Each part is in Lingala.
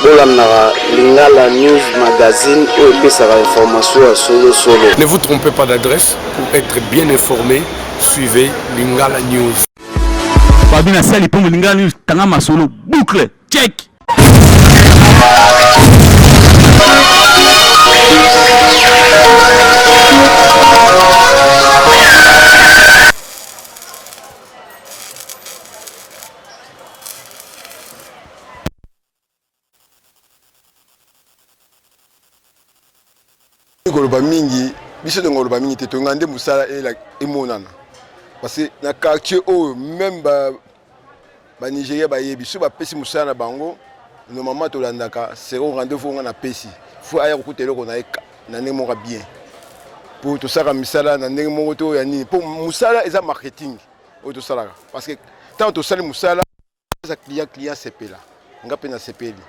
bolandaka lingala news magazine oyo epesaka information ya solosolo ne vous trompez pas d'adresse pour être bien informé suivez lingala news babi na sali mpo lingala news tanga masolo boucle check koloba mingi biso ndenge koloba mingi te tolinga nde mosala emonana parce que na quartier oyo meme banigeria ba bayebi so bapesi mosala na bango normalement tolandaka sero rendez-vous nga napesi fo aya kokuta eloko na ye na ndenge moko bien mpo tosaka misala na ndenge moko to ya nini mpo mosala eza marketing oyo tosalaka parce que ntango tosali mosala eza client client sepela nga mpe nasepeli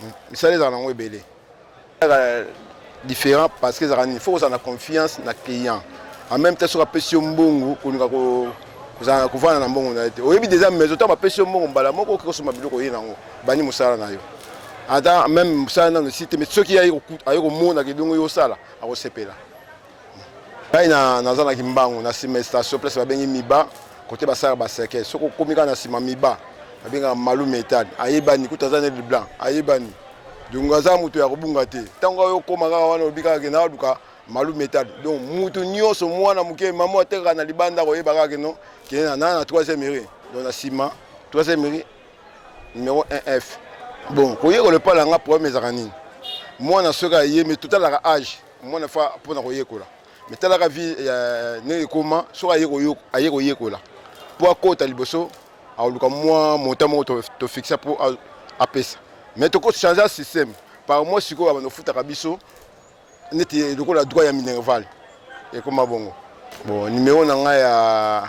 hmm. misala ezala nango ebele différent parce que ezalaka nini faut kozala na confiance na client en même temps soki apesi yo mbongo koluka kozala kovanda na mbongo na ye te oyebi deja maison ntango bapesi yo mbongo mbala moko okoki kosomba biloko oye nango bandi mosala na yo ata meme mosala nano esi te mais soki aye komona kelongo yo osala akosepela ngai naza na kimbangu na nsima ya station place babengi miba kote basalaka baseke soki okomi kaka na nsima miba babengaka malu metal ayebani kutu aza nel blanc ayebani donc aza moto ya kobunga te ntango oyo okoma kaka wana olobi kaka kenda aluka malu metal donc moto nyonso mwana moke mama atekaka na libanda koyeba kaka keno kende na na troisième ere donc na nsima troisième ere numéro 1 f bon koyekola epai na nga problème ezalaka nini mwana soki ayemi totalaka age mwana fa mpo na koyekola me talaka vie ndenge ekoma soki aye koyekola mpo akota liboso akoluka mwa monta moko tofixa mpo apesa me tokochange système par mois sikoyo abanda ofutaka biso neti lokola droit ya minerval ekoma bongo bon numero na ngai ya